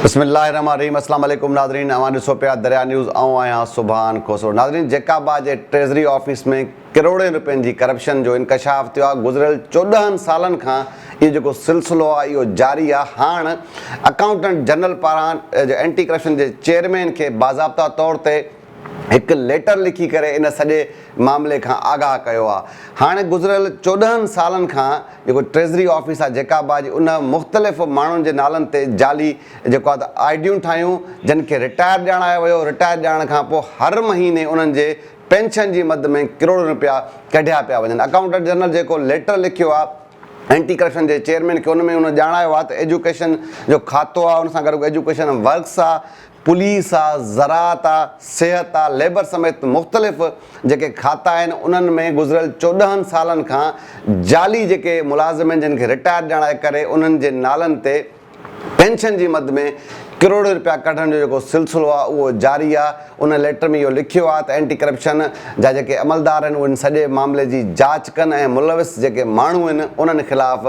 بسم الله الرحمن الرحيم اسلام عليڪم ناظرين اوهان ڏسو پيا دريا نيوز آئون آهيان سبحان کوسو ناظرين جيڪاب آء جي ٽريزري آفيس ۾ ڪروڙين رپين جي ڪرپشن جو انڪشاف ٿيو آهي گذريل چوڏهن سالن کان اهو جيڪو سلسلو آهي اهو جاري آهي هاڻ اڪائونٽنٽ جنرل پاران اينٽي ڪرپشن جي چيئرمين کي باضابطا طور تي هڪ ليٽر لکي ڪري ان سڄي معاملي کان آگاهه ڪيو آ. هاڻي گذريل چوڏهن سالن کان جيڪو ٽريزري آفيس آ جيڪا به آ جي ان مختلف ماڻهن جي نالن تي جعلي جيڪو آ ته آئي ڊيون ٺاهيون جن کي رٽائر ڄاڻايو ويو رٽائر ڄاڻڻ کان پوء هر مهيني انهن جي پينشن جي مد ۾ ڪروڙين رپيا ڪڍيا پيا وڃن اڪائونٽنٽ جنرل جيڪو ليٽر لکيو آ اينٽي ڪرپشن جي چيئرمين کي ان ۾ هن ڄاڻايو آ ته ايجوڪيشن جو کاتو آ ان سان گڏوگڏ ايجوڪيشن ورڪس آ پوليس آ، زراعت آ، صحت آ، ليبر سميت مختلف جيڪي کاتا آهن انهن ۾ گذريل چوڏهن سالن کان جعلي جيڪي ملازمين جن کي رٽائرڊ ڏيڻ جي ڪري انهن جي نالن تي پينشن جي مد ۾ ڪروڙين رپيا ڪڍڻ جو جيڪو سلسلو آ اهو جاري آ ان ليٽر ۾ اهو لکيو آ ته اينٽي ڪرپشن جا جيڪي عملدار آهن اهي ان سڄي معاملي جي جاچ ڪن ۽ ملوث جيڪي ماڻهو آهن انهن خلاف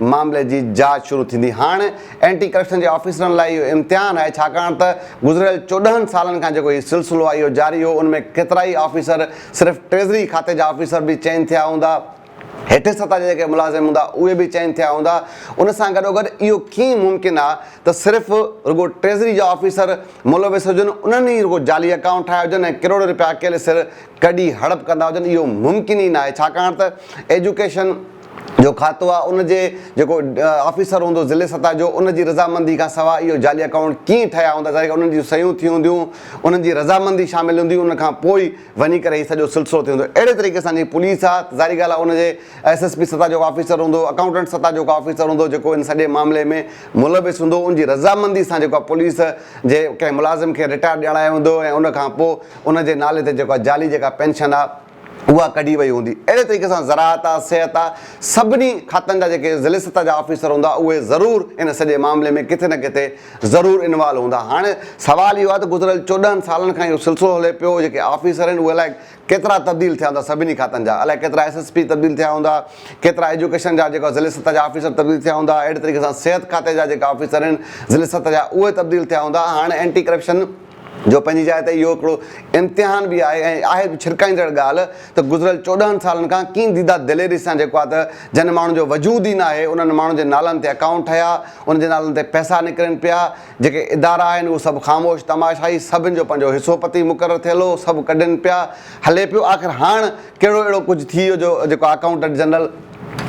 معاملي جي جاچ شروع ٿيندي. هاڻ اينٽي ڪرپشن جي آفيسرن لاء اهو امتحان آهي ڇاڪاڻ ته گذريل چوڏهن سالن کان جيڪو هي سلسلو آهي اهو جاري هو ان ۾ ڪيترائي آفيسر صرف ٽريزري کاتي جا آفيسر به چئن ٿيا هوندا، هيٺين سطح جا جيڪي ملازم هوندا اهي به چئن ٿيا هوندا، ان سان گڏوگڏ اهو ڪيئن ممڪن آ ته صرف رڳو ٽريزري جا آفيسر ملوث هجن انهن ئي رڳو جعلي اڪائونٽ ٺاهيا هجن ۽ ڪروڙين رپيا اڪيلي سر ڪڍي هڙپ ڪندا هجن اهو ممڪن ئي ناهي ڇاڪاڻ ته ايجوڪيشن جو کاتو آ ان جي جيڪو آفيسر هوندو ضلعي سطح جو ان جي رضامندي کان سواء اهو جعلي اڪائونٽ ڪيئن ٺهيا هوندا ظاهر انهن جون صحيحون ٿي هونديون انهن جي رضامندي شامل هوندي ان کان پوء ئي وڃي ڪري هي سڄو سلسلو ٿيندو اهڙي طريقي سان جيڪي پوليس آ ظاهري ڳالهه آ ان جي ايس ايس پي سطح جو آفيسر هوندو اڪائونٽنٽ سطح جو آفيسر هوندو جيڪو ان سڄي معاملي ۾ ملوث هوندو ان جي رضامندي سان جيڪو آ پوليس جي ڪنهن ملازم کي رٽائر ڏيارايو ويندو ۽ ان کان پوء ان جي نالي تي جيڪو آ جعلي جيڪا پينشن آ اها ڪڍي وئي هوندي. اهڙي طريقي سان زراعت آ، صحت آ، سڀني کاتن جا جيڪي ضلعي سطح جا آفيسر هوندا اهي ضرور ان سڄي معاملي ۾ ڪٿي نه ڪٿي ضرور انوالو هوندا. هاڻي سوال اهو آ ته گذريل چوڏهن سالن کان اهو سلسلو هلي پيو جيڪي آفيسر آهن اهي الاء ڪيترا تبديل ٿيا هوندا سڀني کاتن جا الاء ڪيترا ايس ايس پي تبديل ٿيا هوندا ڪيترا ايجوڪيشن جا جيڪا ضلعي سطح جا آفيسر تبديل ٿيا هوندا اهڙي طريقي سان صحت کاتي جا جيڪا آفيسر آهن ضلعي سطح جا اهي تبديل ٿيا هوندا هاڻي اينٽي ڪرپشن جو پنهنجي جاء تي اهو هڪڙو امتحان به آهي ۽ آهي به ڇرڪائيندڙ ڳالهه ته گذريل چوڏهن سالن کان ڪين ديده دليري سان جيڪو آ ته جن ماڻهن جو وجود ئي ناهي انهن ماڻهن جي نالن تي اڪائونٽ ٺهيا انهن جي نالن تي پئسا نڪرين پيا جيڪي ادارا آهن اهو سڀ خاموش تماشائي سڀن جو پنهنجو حصو پتي مقرر ٿيل هو سڀ ڪڍين پيا هلي پيو آخر هاڻ ڪهڙو اهڙو ڪجهه ٿي ويو جو جيڪو اڪائونٽنٽ جنرل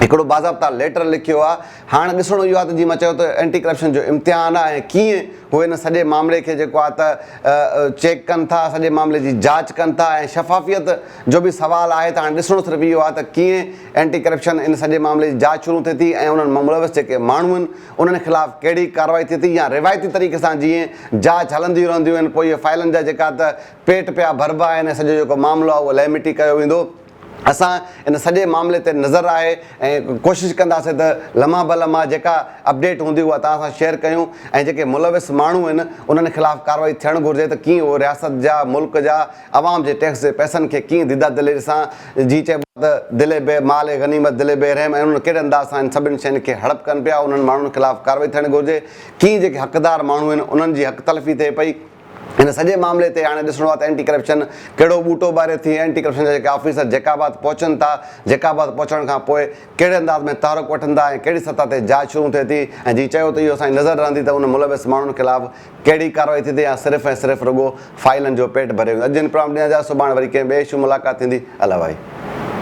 هڪڙو باضابطا ليٽر لکيو آ هاڻ ڏسڻو اهو آهي ته جيئن مان چيو ته اينٽي ڪرپشن جو امتحان آهي ۽ ڪيئن هو ان سڄي معاملي کي جيڪو آهي ته چيڪ ڪن ٿا، سڄي معاملي جي جاچ ڪن ٿا ۽ شفافيت جو به سوال آهي ته هاڻ ڏسڻو صرف اهو آهي ته ڪيئن اينٽي ڪرپشن ان سڄي معاملي جي جاچ شروع ٿئي ٿي ۽ انهن مان ملوث جيڪي ماڻهو آهن انهن خلاف ڪهڙي ڪارروائي ٿئي ٿي يا روايتي طريقي سان جيئن جاچ هلنديون رهنديون آهن پوء اهي فائلن جا جيڪا ته پيٽ پيا ڀربا آهن ۽ سڄو جيڪو معاملو آهي اهو لهه مٽي ڪيو ويندو. اسان ان سڄي معاملي تي نظر آهي ۽ ڪوشش ڪنداسين ته لمحه به لمحه جيڪا اپڊيٽ هوندي اها توهان سان شيئر ڪيون ۽ جيڪي ملوث ماڻهو آهن انهن خلاف ڪارروائي ٿيڻ گهرجي ته ڪيئن اهو رياست جا ملڪ جا عوام جي ٽيڪس جي پئسن کي ڪيئن ديده دليري سان جيئن چئبو آهي ته دل بي مال غنيمت دل بي رحم ۽ انهن ڪهڙي انداز سان هن سڀني شين کي هڙپ ڪن پيا انهن ماڻهن خلاف ڪارروائي ٿيڻ گهرجي ڪيئن جيڪي حقدار ماڻهو آهن انهن جي حق تلفي ٿئي پئي. ان سڄي معاملي تي هاڻي ڏسڻو آهي ته اينٽي ڪرپشن ڪهڙو ٻوٽو ٻاري ٿي ۽ اينٽي ڪرپشن جا جيڪي آفيسر جيڪب آباد پهچن ٿا، جيڪب آباد پهچڻ کان پوء ڪهڙي انداز ۾ تحرڪ وٺن ٿا ۽ ڪهڙي سطح تي جاچ شروع ٿئي ٿي ۽ جي چيو ته اهو اسان جي نظر رهندي ته ان ملوث ماڻهن خلاف ڪهڙي ڪارروائي ٿيندي يا صرف ۽ صرف رڳو فائلن جو پيٽ ڀريو ويندو. اڄ جن پروگرام ڏينهن جا سڀاڻ وري ڪنهن ٻئي اشو ملاقات ٿيندي. الائي.